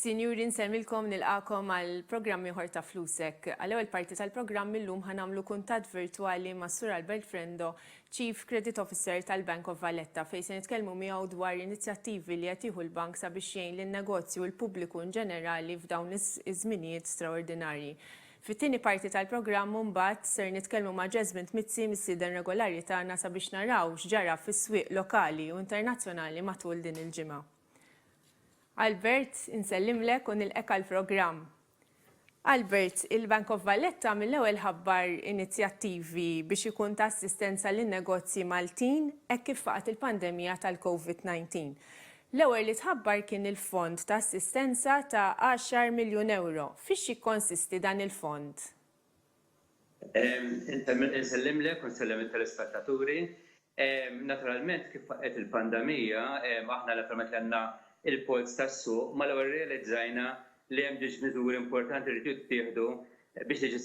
Sinjuri, nsemmilkom nilqakom għal programm ieħor ta' Flusek. Għal ewwel parti tal-programm illum ħanamlu kuntatt virtwali ma' Sur Albert Frendo Chief Credit Officer tal-Bank of Valletta, fejn se nitkellmu miegħu dwar l-inizjattivi li qed jieħu l-bank sabiex jgħin lin-negozji u l-pubbliku inġenerali f'dawn iż-żminijiet straordinarji. Fit-tieni parti tal-programm imbagħad ser nitkellmu ma' Jesmond Mizzi, missieden regolari tagħna sabiex naraw x'ġara fis-swieq lokali u internazzjonali matul din il-ġimgħa. Albert, insellimlek u nilqgħek għall-programm. Albert, il-Bank of Valletta mill-ewwel ħabbar inizjattivi biex ikun ta' assistenza lin-negozji Maltin hekk kif faqgħet il-pandemija tal-Covid 19. L-ewwel li tħabbar kien il-fond ta' assistenza ta' għaxar miljun ewro. Fiex jikkonsisti dan il-fond? Insellimlek u nsellem it-telespettaturi. Naturalment kif faqqgħet il-pandemija, aħna naturalment li għandna l-polz tas-suq, mal-ewwel irrealizzajna li hemm ġiex miżuri importanti li rridu jittieħdu biex tiġi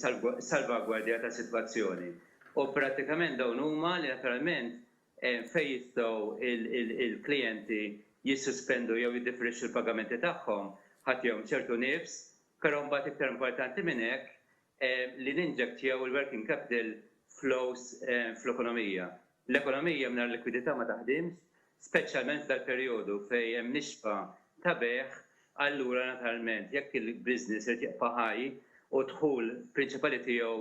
salvagwardjata s-sitwazzjoni. U prattikament dawn huma li naturalment fejn jistgħu l-klijenti jissospendu jew jiddifferixxu l-pagamenti tagħhom, ħa tihom ċertu nifs Però mbagħad iktar importanti minn hekk li ninjettjaw il-working capital flows fl-ekonomija. L-ekonomija mingħajr likwidità ma taħdimx, speċjalment f'dal-perjodu fejn hemm nixfa ta' bejgħ, allura naturalment jekk il-business irid jibqa' ħaj u d-dħul prinċipali tiegħu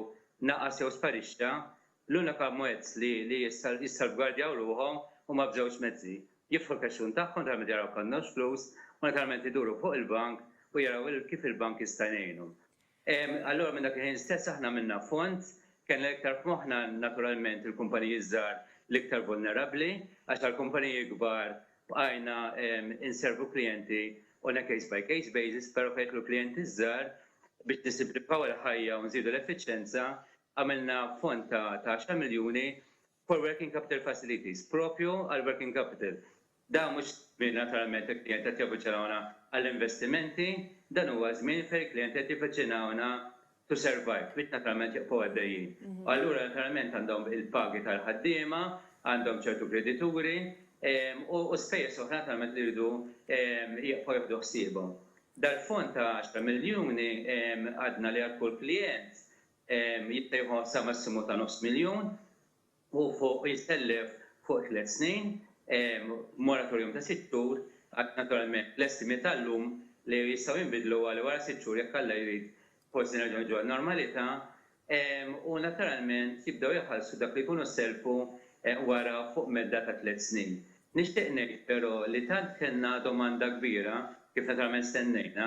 naqas jew sparixxa, L-unika mezz li jissalvgwardjaw ruħhom huma b'żewġ mezzi, jiftħu l-kexxun tagħhom talment jaraw b'kannoġġ flus u naturalment iduru fuq il-bank u jaraw kif il-bank jista' jgħinhom. Allura minn dak il-ħin stess aħna għamilna fond, kellna iktar f'moħħna naturalment il-kumpaniji ż-żgħar l-iktar vulnerabbli, għax għall-kumpaniji kbar bqajna nservu klijenti on a case by case basis, però fejn jidħlu klijenti ż-żgħar biex nisimplifikaw il-ħajja u nżidu l-effiċjenza, Għamilna fond ta' għaxar miljuni for working capital facilities, proprju għall-working capital. Dan mhux żmien naturalment li klijenti qed javviċinawna għall-investimenti, dan huwa żmien fejn il-klijenti qed jivviċinawna to survive, biex naturalment jibqgħu għaddejjin. U allura naturalment għandhom il-pagi tal-ħaddiema, għandhom ċertu kredituri, u spejjeż oħra naturalment li jridu jibqgħu jieħdu ħsiebhom. Dal-fond ta' għaxar miljuni għadna li għal kull klijent jista' jieħu sa massimu ta' nofs miljun u fuq jissellef fuq tliet snin b'moratorium ta' sitt xhur għax naturalment l-estimi tal-lum li jistgħu jinbidlu għal wara sitt xhur jekk Alla jrid forsi nerġgħu niġu għan-normalità u naturalment jibdew iħallsu dak li jkunu sellfu wara fuq medda ta' tliet snin. Nixtieq ngħid però li tant kellna domanda kbira, kif naturalment stennejna,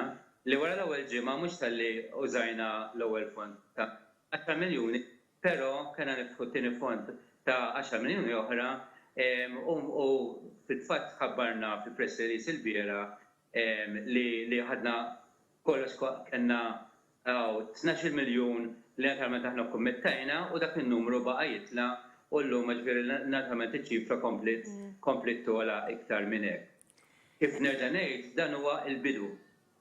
li wara l-ewwel ġimgħa mhux talli użajna l-ewwel fond ta' għaxar miljuni però kellna niftħu t-tieni fond ta' għaxar miljuni oħra u fil-fatt ħabbarna fi press release il-bieraħ li ħadna kollox kellna hawn tnax-il miljun li naturalment aħna kkummittajna u dak in-numru baqa' jitla' u llum jiġifieri naturalment iċ-ċifra kompliet kompliet togħla iktar minn hekk. Kif nerġa' ngħid, dan huwa l-bidu.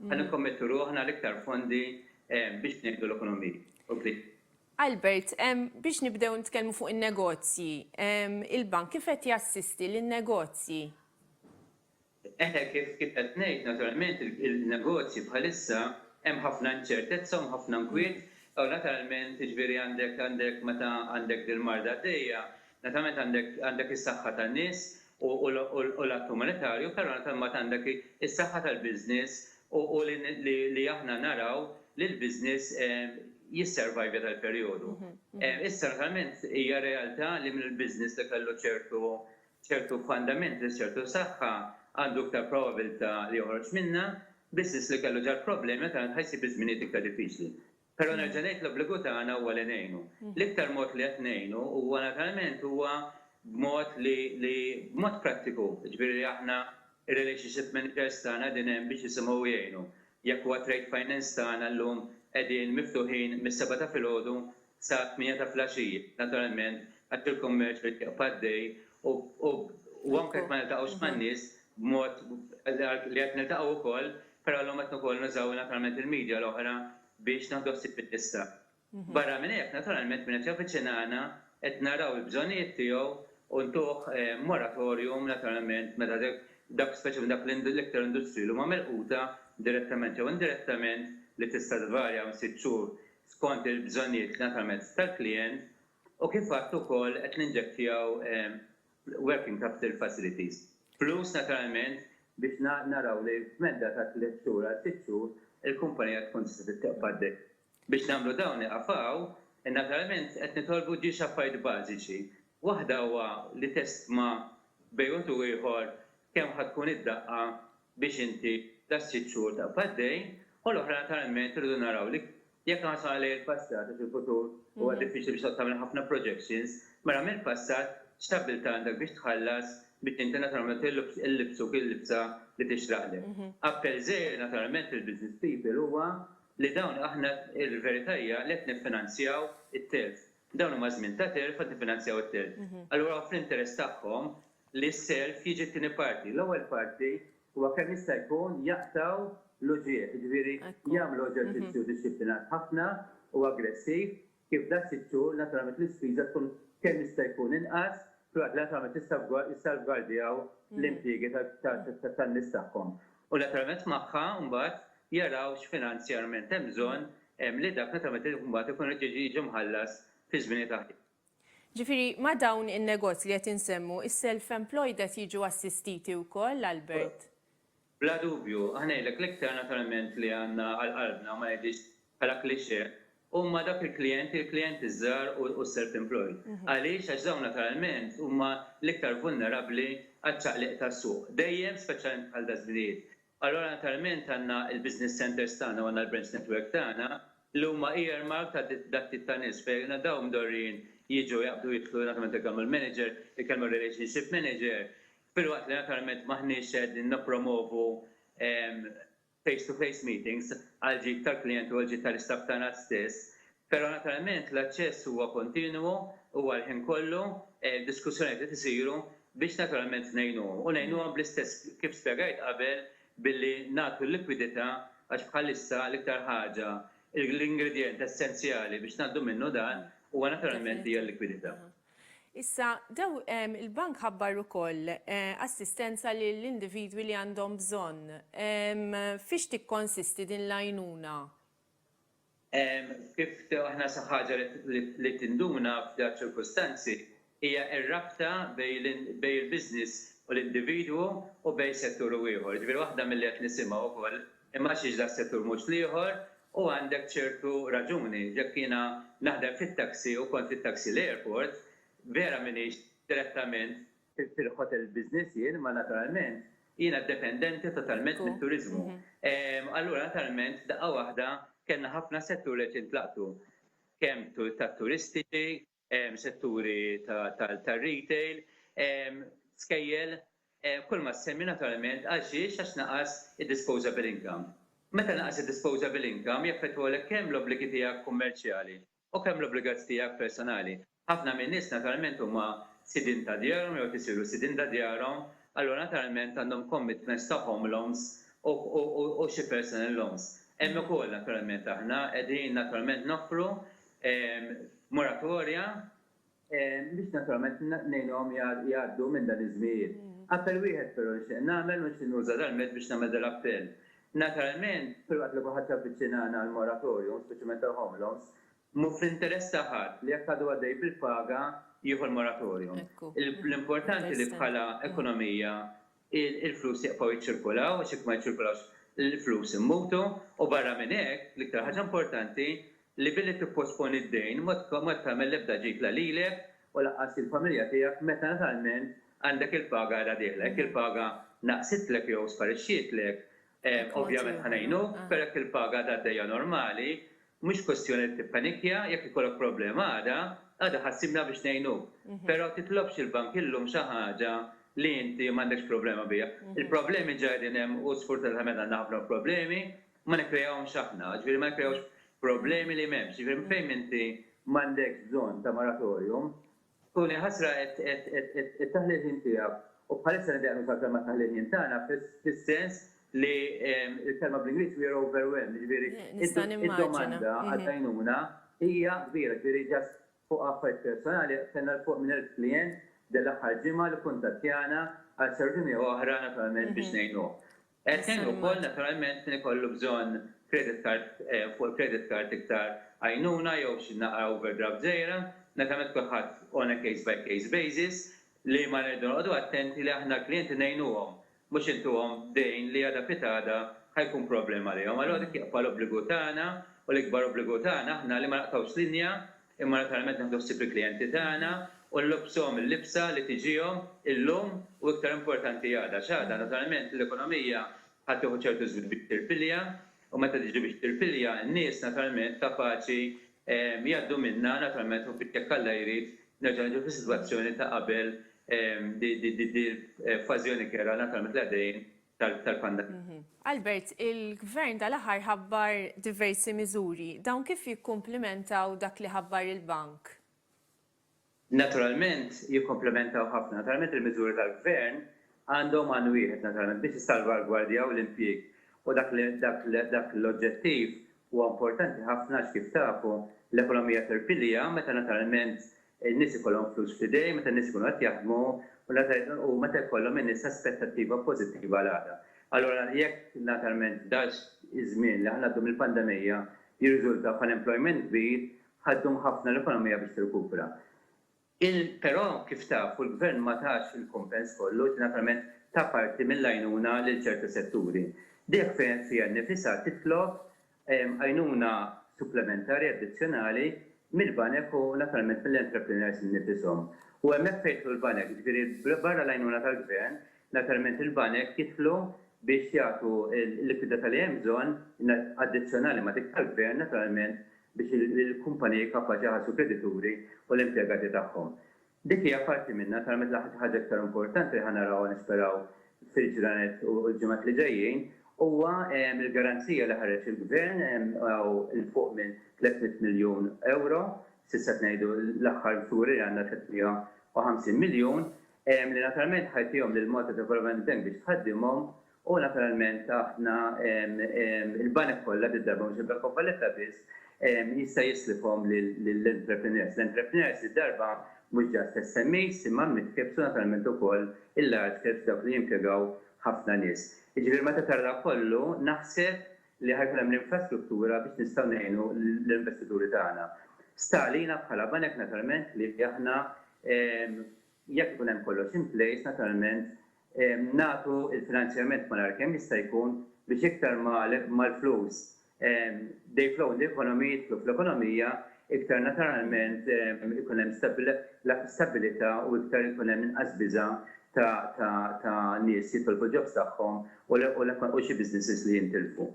Ħa nikkommettu ruħna għal iktar fondi biex ngħinu l-ekonomiji u l-bdiewa. Albert, biex nibdew nitkellmu fuq in-negozji, il-Bank kif qed jassisti lin-negozji? Eħe, kif qed ngħid, naturalment il-negozji bħalissa hemm ħafna inċertezza u hemm ħafna nkwiet u naturalment jiġifieri għandek meta għandek dil-marda għaddejja, naturalment għandek is-saħħa tan-nies u l-att umanitarju, però ta' mbagħad għandek is-saħħa tal-business u li aħna naraw li l-business jisservajvja tal-perjodu. Issa naturalment hija realtà li minn il-business li kellu ċertu ċertu fundamentals, ċertu saħħa għandu iktar probabilità li joħroġ minnha, business li kellu ġar-problemi naturalment ħa jsib iż-żminijiet iktar diffiċli. Però nerġa' ngħid l-obbligu tagħna huwa li ngħinu. L-iktar mod li qed ngħinu huwa naturalment huwa b'mod li li b'mod prattiku, jiġifieri li aħna r-relationship managers tagħna qegħdin hemm biex jisimgħu u jgħinu. Jekk huwa trade finance tagħna llum qegħdin miftuħin mis-sebgħa ta' filgħodu sa tmienja ta' flaxija, naturalment għax il-kummerċ irid jibqa' għaddej u u anke jekk ma niltaqgħux man-nies b'mod li qed niltaqgħu wkoll, però llum qed ukoll nużaw naturalment il-media l-oħra biex naħdu ħsieb il-lista. Barra minn hekk, naturalment min qed javviċinana qed naraw il-bżonnijiet tiegħu u ntuh moratorium naturalment meta dak speċjalment dak l-iktar industriji li huma milquta direttament jew indirettament li tista' tvarja minn sitt xhur skont il-bżonnijiet naturalment tal-klijent u kif għedt ukoll qed ninġettjaw Working Capital Facilities. Flus naturalment biex naraw li f'medda ta' tliet xhur għal sitt xhur il-kumpanija tkun tista' titqbad bih. Biex nagħmlu dawn iqaf hawn, naturalment qed nitolbu ġiex affarijiet bażiċi. Waħda huwa li testma bejn u ieħor kemm ħa tkun id-daqqa biex inti ta' sitt xhur taqbad għaddej, u l-oħra naturalment irridu naraw li jekk ħarsna lejn il-passat għax il-futur huwa diffiċli biex tgħodd tagħmel ħafna projections, mela mill-passat x'stabbiltà għandek biex tħallas biex inti naturalment illibsuk il-libsa li tixraqlek. Appell żgħir naturalment lill-business people huwa li dawn aħna l-verità hija li qed niffinanzjaw it-telf. Dawn huma żmien ta' telf qed niffinanzjaw it-telf. Allura hu fl-interess tagħhom li s-self jiġi t-tieni parti. L-ewwel parti huwa kemm jista' jkun jaqtgħu l-uġigħ, jiġifieri jagħmlu eġerċizzju dixxiplinat ħafna u aggressiv kif dak sitt xhur naturalment l-ispiża tkun kemm jista' jkun inqas filwaqt li naturalment jissalvgwardjaw l-impjiegi tan-nies tagħhom. U naturalment magħha mbagħad jaraw x'finanzjarment hemm bżonn li dak naturalment mbagħad ikun irid jiġi mħallas fi żminijiet aħjar. Ġifieri ma' dawn in-negozji li qed insemmu, is-self-employed qed jiġu assistiti wkoll, Albert? Bla dubju. Aħna ngħidlek, l-iktar naturalment li għandna għal qalbna, ma ngħidhiex bħala cliché, huma dawk il-klijenti, il-klijenti ż-żgħar u s-self-employed. Għaliex? Għax dawn naturalment huma l-iktar vulnerabbli għaċ-ċaqliq tas-suq. Dejjem, speċjalment bħal daż-żminijiet, Allura naturalment għandna l-business centres tagħna u għandna l-branch network tagħna li huma earmarked għal dat tip ta' nies fejn dawn mdorrijin jiġu jaqbdu jidħlu naturalment ikellmu l-manager, ikellmu r-relationship manager filwaqt li naturalment m'aħniex qegħdin nippromovu face to face meetings għall-ġid tal-klijenti u għall-ġid tal-istaff tagħna stess Però naturalment l-aċċess huwa kontinwu, huwa l-ħin kollu, diskussjonijiet qed isiru biex naturalment ngħinuhom. U ngħinuhom bl-istess kif spjegajt qabel billi nagħtu l-likwidità għax bħalissa l-iktar ħaġa, l-ingredjent essenzjali biex ngħaddu minnu dan huwa naturalment hija l-likwidità. Issa, daw, il-Bank ħabbar ukoll assistenza lil individwi li għandhom bżonn. Fiex tikkonsisti din l-għajnuna? Kif aħna xi ħaġa li tinduna f'dawn iċ-ċirkustanzi hija r-rabta bejn il-business u l-individwu u bejn settur u ieħor. Jiġifieri waħda milli qed nisimgħu wkoll imgħaxx das-settur mhux l-ieħor u għandek ċertu raġuni. Jekk jiena naħdem fit-taxi u kont fit-taxi l-airport, vera m'iniex direttament Fil-Pirq Hotel Business jien, ma naturalment, jiena dependenti totalment mit-turiżmu. Allura naturalment f'daqqa waħda kellna ħafna setturi qed jintlaqtu. Kemm tat-turisti, setturi tar-retail, skejjel, kull ma ssemmi naturalment għal xiex għax naqas id-disposable income. Meta naqas id-disposable income jaffettwalek kemm l-obbligi tiegħek kummerċjali U kemm l-obbligazji tiegħek personali. Ħafna min-nies naturalment huma sidien ta' djarhom jew qed isiru sidien ta' djarhom, allura naturalment għandhom commitments ta' home loans u xi personal loans. Hemm ukoll naturalment aħna qegħdin naturalment noffru moratorja, biex naturalment ngħinuhom jgħaddu minn dan iż-żmien. Appell wieħed però nixtieq nagħmel u nixtieq nuża dal-mezz biex nagħmel dal-appell. Naturalment, filwaqt li kulħadd javviċina għal għall-moratorium, speċjalment għall-home loans, mhu fl-interess ta' ħadd li jekk għadu għaddej bil-paga jieħu l-moratorium. L-importanti li bħala ekonomija il-flus jieqfgħu jiċċirkulaw għax jekk ma jiċċirkulawx il-flus immutu u barra minn hekk, l-iktar ħaġa importanti, li billi tipposponi d-dejn ma qed tagħmel l-ebda ġid la lilek u lanqas lill-familja tiegħek meta natalment għandek il-paga għada dieħla. Jekk il-paga naqsitlek jew sparixxietlek, Ovvjament ħa ngħinuk, però jekk il-paga għadha għaddejja normali, mhux kwestjoni li tippanikja, jekk ikollok problema għada, għada ħa ssibna biex ngħinuk. Però titlobx il-bank illum xi ħaġa li inti m'għandekx problema biha. Il-problemi ġa qegħdin hemm u sfortunatament għandna ħafna problemi, ma nikkreahomx aħna, jiġifieri ma nikkreahux problemi li m'hemmx. Jiġifieri fejn inti m'għandekx bżonn ta' moratorium, Tuni ħasra qed taħli l-ħin tiegħek. U bħalissa nibdew nuża l-kelma taħli l-ħin tagħna fis-sens li l-kelma bl-Ingliż we are overwhelmed, jiġifieri id-domanda għall-għajnuna hija kbira, jiġifieri ġast fuq affarijiet personali kellna 'l fuq minn elf klijent din l-aħħar ġimgħa li kkuntattjana għal servizzi miegħu oħra naturalment biex ngħinuh. Qed tgħin ukoll naturalment min ikollu bżonn credit card fuq il-credit card iktar għajnuna jew xi naqra overdraft żgħira. Naturalment kulħadd on a case by case basis li ma rridu noqogħdu attenti li aħna l-klijenti ngħinuhom mhux intuhom dejn li għada pitgħada ħa jkun problema għalihom. Allura dik hija l-obbligu tagħna u l-ikbar obbligu tagħna aħna li ma naqtgħux linja Imma naturalment nieħdu ħsieb il-klijenti tagħna u nlobbsuhom il-libsa li tiġihom illum u iktar importanti għada għax għada naturalment l-ekonomija ħa tieħu ċertu żmien biex tirpilja u meta tiġi biex tirpilja n-nies naturalment kapaċi jgħaddu minnha naturalment u biex jekk Alla jrid nerġgħu niġu fis-sitwazzjoni ta' qabel di l-fażjoni kerha naturalment li għaddejjin tal-pandemija. Albert, il-Gvern dal-aħħar ħabbar diversi miżuri. Dawn kif jikkumplimentaw dak li ħabbar il-Bank? Naturalment jikkumplimentaw ħafna. Naturalment il-miżuri tal-Gvern għandhom għan wieħed naturalment, biex jissalvagwardjaw l-impjieg. U dak l-oġġettiv huwa importanti ħafna għax kif tafu l-ekonomija tirpilja meta naturalment in-nies ikollhom flus f'idejhom, meta n-nies ikunu qed jaħdmu u meta jkollhom in-nies aspettattiva pożittiva għal għada. Allura jekk naturalment dan iż-żmien li ħanaddu mill-pandemija jirriżulta f'unemployment kbir, ħa ddum ħafna l-ekonomija biex tirkupra. Però kif tafu l-Gvern ma tax il-kumpens kollu, ġifieri naturalment ta parti mill-għajnuna lil ċerti setturi. Dik fejn qed fiha nnifisha titlob għajnuna supplementari addizzjonali mill-banek u naturalment mill-entrepreneurs innifishom. U hemmhekk fejn jidħlu l-banek, jiġifieri barra l-għajnuna tal-gvern, naturalment il-banek jidħlu biex jagħtu l-likwidità li hemm bżonn, addizzjonali ma' dik tal-gvern naturalment, biex il-kumpaniji kapaċi jħallsu l-kredituri u l-impjegati tagħhom. Dik hija parti minnha, tara meta l-aħħar xi ħaġa iktar importanti li ħa narawha nisperaw fil-ġranet u l-ġimgħat li ġejjin huwa l-garanzija li ħareġ il-Gvern hawn 'il fuq minn 300 miljun ewro, s'issa qed ngħidu l-aħħar figuri li għandna 350 miljun, li naturalment ħa jtihom lil Malta Development Bank biex tħaddimhom U naturalment aħna il-banek kollha din id-darba mhux il-Bank of Valletta biss jista' jislifhom lill-entrepreneurs. L-entrepreneurs din id-darba mhux just SMEs imma mid-caps u naturalment ukoll il-large caps dawk li jimpjegaw ħafna nies. Jiġifieri meta tara dan kollu naħseb li ħa jkun hemm l-infrastruttura biex nistgħu ngħinu lill-investituri tagħna. Sta għalina bħala banek naturalment li aħna jekk ikun hemm kollox in place naturalment nagħtu l-finanzjament malajr kemm jista' jkun biex iktar ma l-flus they flow in the economy, jidħlu fl-ekonomija, iktar naturalment ikun hemm stabbilità u iktar ikun hemm inqas biża' ta' nies jitolbu l-jobs tagħhom u xi businesses li jintilfu.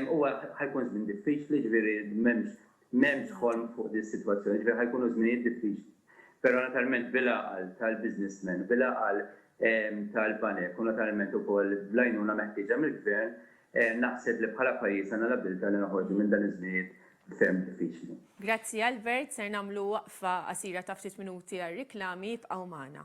Huwa ħa jkun żmien diffiċli, jiġifieri m'hemmx M'hemmx ħolm fuq din is-sitwazzjoni, jiġifieri ħa jkunu żminijiet diffiċli. Però natalment bil-għaqal tal-businessmen, bil-għaqal tal-banek u natalment ukoll bl-għajnuna meħtieġa mill-Gvern, naħseb li bħala pajjiż għandna l-abbiltà li noħorġu minn dan iż-żminijiet ferm diffiċli. Grazzi Albert, ser nagħmlu waqfa qasira ta' ftit minuti għar-riklami, ibqgħu magħna.